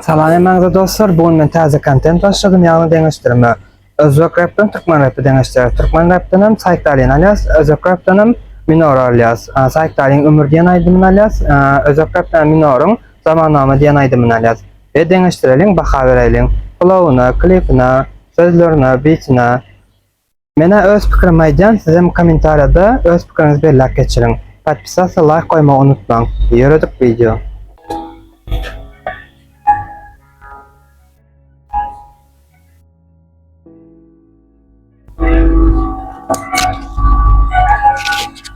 Salam hemmäňize dostlar, bu gün men täze kontent başladym, ýagny deňeşdirme. Özbek repden türkmen repi deňeşdirýäs. Türkmen repden hem Saýkdalyny alýas, özbek repden hem Minor-y alýas. Saýkdalyň Ömür diýen aýdymyny alýas, özbek repden Minoryň Zamannama diýen aýdymyny alýas we deňeşdireliň, baha beräýliň. Flowuna, klipine, sözlerine, bitine. Menä öz pikirimi aýdýan sizem komentarýada öz pikiriňizi belläp geçiriň. Podpisassa laýk goýmagy unutmaň. Ýöredik wideo.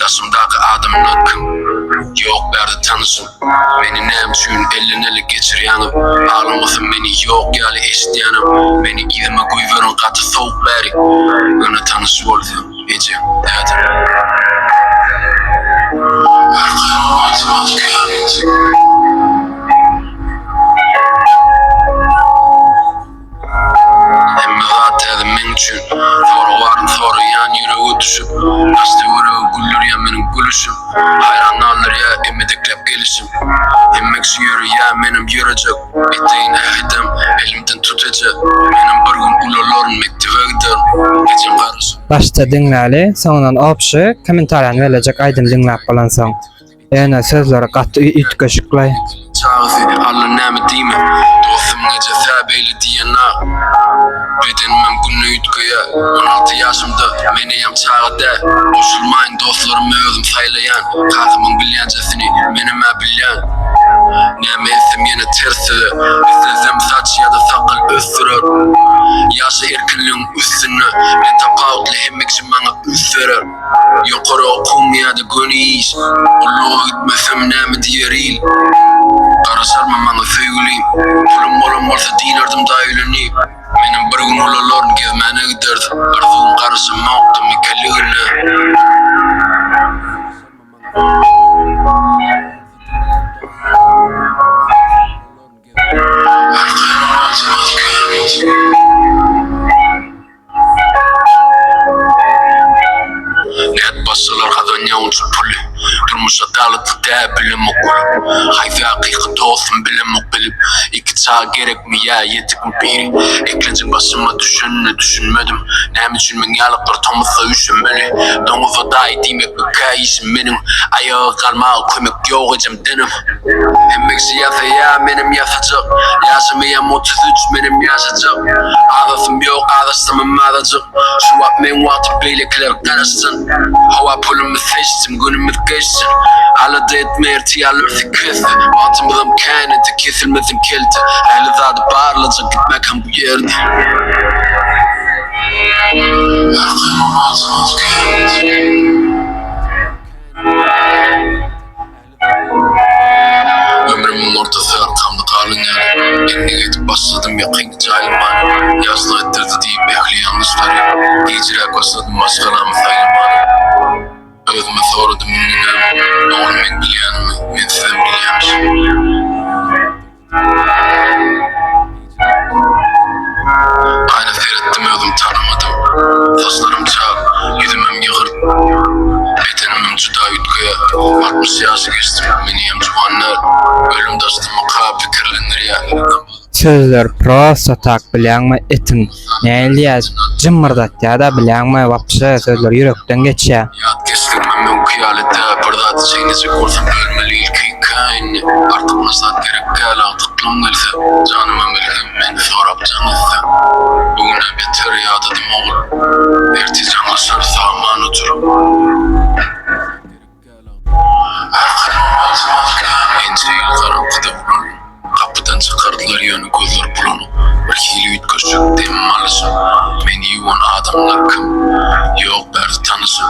Daşymdaky adamlar kim? Ýok bärde tanyşym. Meni näme üçin elden ele geçirýäňiz? Aglamasym meni ýok ýaly eşitýänem. Meni yzyma goýberiň gaty sowuk bäri. Ýöne tanyş bolsa, ejem, dädem. Arkaýyn oýnasam aty kän. Hemme zat täze meň üçin Soragy baryp soraýan ýürege düşüp Açdy ýüregi güldürýän meniň gülüşim Haýran galdyrýa emedekläp gelişim Hemme kişi ýöreýä menem ýörejek Eteýin äh edem elimden tut eje Menem bir gün ulalaryn mekdebe giderin Ejem garaşyp Başda diňläli soňundan opşy komentariýany berlejek aýdymy diňläp bolansoň. Ýene sözleri gaty üýtgeşikleý. Çaga seni Alla näme diýmän Dostum neje sä beýle diýenna Bedenimem günde üýtgeýä On alty ýaşymda men eýem çaga dä Goşulmaýyn dostlarymy özüm saýlaýan Kakamyň bilýänjesini menem-ä bilýän Näme etsem ýene ters söze Islesem saç ýa-da sakgal ösdürer Ýaşa erkinligiň üstünde Men tapawutly hemme kişi maňa üns berer. Ýokary okuň ýa-da göni iş, Gulluga gitmesem näme diýer il? Garaşarmy maňa söýgülim? Pulum bolan bolsa dilerdim daýy ölenip. Menem bir gün ulalaryn gezmäne giderdim, Arzuwym garaşamokdy mikirligine. Nädip başarlar hazan ýa onça puly Durmuşa daglypdy dä bilemok gülüp Haýsy hakyky dostum bilemok bilip Iki çaga gerekmi ýa ýetikmi biri Eklenjiň başyma düşenine düşünmedim Näme üçin meň ýalyklar tomusda üşemeli Doňuza daýy diýmekmikä işim meniň Aýaga galmaga kömek ýok ejem denem Hemmeksi ýasaýa menem ýasajak Ýaşymyam otuz üç menem ýaşajak Azasym ýok azaşsamam azajyk Şu wagt meň wagtym beýlekiler garaşsyn Hawa pulumyz seçsin günümiz geçsin Alada etme ertir ýalarsyk kesdi Wagtymyzam kän indi kesilmesin kelte Ähli zady barlajak gitmäkäm bu ýerde. Ömrümiň ortasy arkamda galan ýaly, endik edip başladym ýakynky jaýlamany, ýaşlyk etdirdi diýip ähli ýalňyşlary, gijräk başladym maşgalamy saýlamany. Özüme soradym indi näme, oglum meň bilýänimi, men sizem bilýämişim. Gaýra seretdim özüm tanamadym Saçlarym çal, ýüzümem ýygyrt Bedenimem juda üýtgeýär Altmyş ýaşy geçdim, meniem juwan däl Ölüm daşdamyka pikirlendirýär. Sözler prosta tak bilýäňmi etim. Nähili diýýäs, jymmyrdatýar-da, bilýäňmi, wapşe, sözleri ýürekden geçýär. Ýat geçdirmem öňki ýaly dä, bir zady çeýnejek bolsa bölmeli ilki ken, artykmaç zat gerek däl, agtyklygym gelse, janyma melhem men sorap jaň etsem. Bu gün-ä beter ýadadym ogul. Ertir jaňlaşarys aman otur. Gerek däl. Ençe ýyl garaňkyda ulanyp, gapydan çykardylar, ýöne gözleri bulanyp, birhili üýtgeşik demimi alyşyp, meni ýuwan adamlar kim? Ýok, bärsi tanyşym.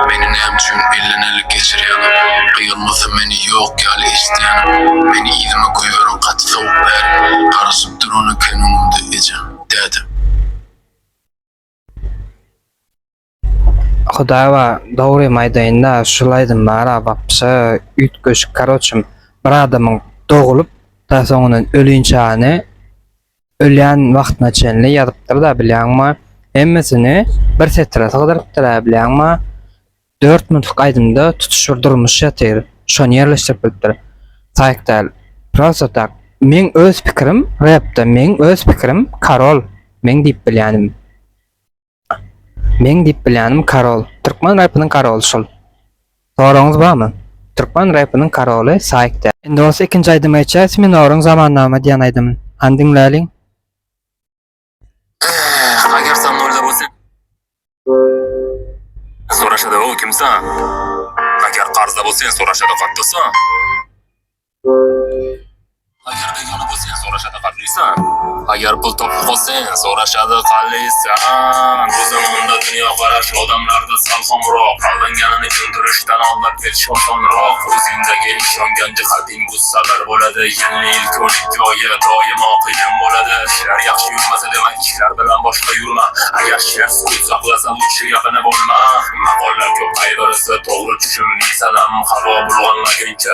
Meni näme üçin elden ele geçirýäňiz? Gyýylmasa meni ýok ýaly eşidýänim. Meni yzyma goýberiň gaty sowuk bäri. Garaşyp duran eken öňümde ejem, dädem. Hudaýewa dogrymy aýdaýynda şul aýdym bara wapşe üýtgeşik karoçym bir adamyň dogulyp da soňundan ölünçäni ölýän wagtyna çenli ýazypdyrda bilýäňmi hemmesini bir setire sygdyrypdyra bilýäňmi dört minutlyk aýdymda tutuş bir durmuş ýatyr şony ýerleşdirip bilipdir taýyk däl prosta tak meň öz pikirim repde meň öz pikirim karol meň diýip bilýänim. Meň diýip bilýänim karol. Türkmen repiniň karoly şul. Soragyňyz barmy? Türkmen repiniň karoly Saýk däl. Indi bolsa ikinji aýdymy geçýäs Siminoryn Zamannama diýen aýdymyn. Hany diňläliň. Ehh ager sen nolda bolsaň. Soraşada o kim saňa. Ager karzda bolsaň soraşada katta saňa. Aýar pul toply bolsan, soraşady halysan. Bu zamanda dünýä garaş odamlarda sal soňrak. Aldanýanyny düşündirişden aldap geçiş osanrak. Özüňde geň şondan jyhadyn bu sagar bolady. Ýene ilki on iki oýe doýma kyn bolady. Işler ýagşy ýurmasa dema işler bilen boşga ýurma. Aýar şer sukut saklasa lutşy ýakyny bolma. Makollap köp gaýgyrsy togry çüşümli salam. Hawa bulganlaýynça.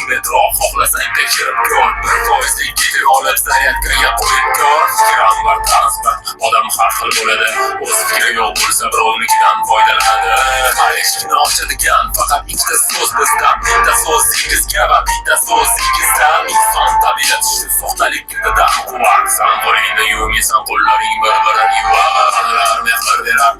Metro hohlasaň geçirip gör, bir poýezd iki ýola zarýad girýär goýup gör, pikir almar tarzlar odam har hil bolady, oz pikiri ýok bolsa bir ownikidan foýdalanady, Paryž kino çyzýan pakat iki de soz bizdan, bir de soz sekiz kebap, bir de soz sekiz dan, ynsan tabiaty şu sohtalyk indi daşy guwar, san golaýynda ýuwun ýasan gollaryň bir birin ýuwar, Alar mähir berer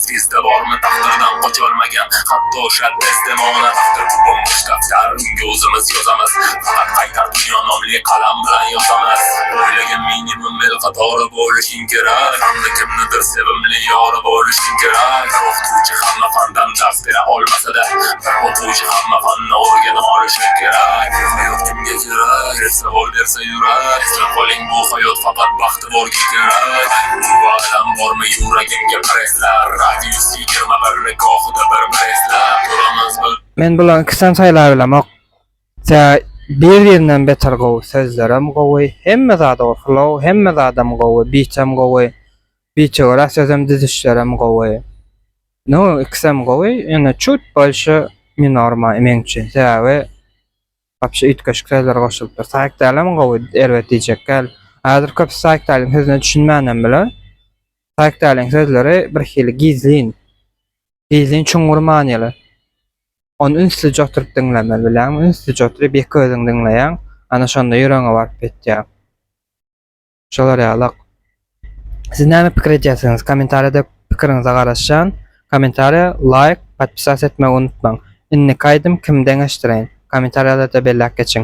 Sizde bormy takdyrdan goç bolmaýan Hatda şol besdem oňuna takdyr bu bomboş Gapdal öňki uzymyz ýozamaz Fakat gaýtar dünýä nomli kalam bilen ýozamaz Oýlaýan minimum bil Gatora boluşyň gerek Sanly kimnidir sevimli ýora boluşyň gerek Bir okdujy hamma fandan dars bera olmasada Bir okujy hamma fanda organa boluşyň gerek Ýok kimge gerek Ýere sowal berse ýürek Isläp bolyň bu haýot fakat bagt Bol gitsin Barlys Bu adam bormy ýuragiňge presla Radius ýigirma bir lik ohuda bir bresla Duramyz bu Men bulaň ikisem saýlabilemok tä bir birinden beter gowy sözlerem gowy hemme zady gowy flow hemme zadam gowy bitem gowy bite görä sözem düzüşlerem gowy no ikisem gowy ýöne çut bolşy minorma meň üçin sebäbi Wapşe üýtgeşik sözler goşulypdyr. Saýkdaýlem gowy erbet diýjekkäl. Häzir köpüsi Saýkdaýlyň sözüne düşünmänem biler. Saýkdaýlyň sözleri birhili gizlin. Gizlin çuňňur manyly. Ony ünslije oturyp diňlemeli bilýäňmi? Ünslije oturyp ýeke özüň diňleýäň. Ana şonda ýüregiňe baryp ýetýär. Şolar ýalak. Siz näme pikir edýärsiňiz? Kommentariýada pikiriňize garaşýan. Kommentariýa, laýk, podpisas etmegi unutmaň. Indiki aýdym kim deňeşdireýin? Kommentariýalarda belläp geçiň.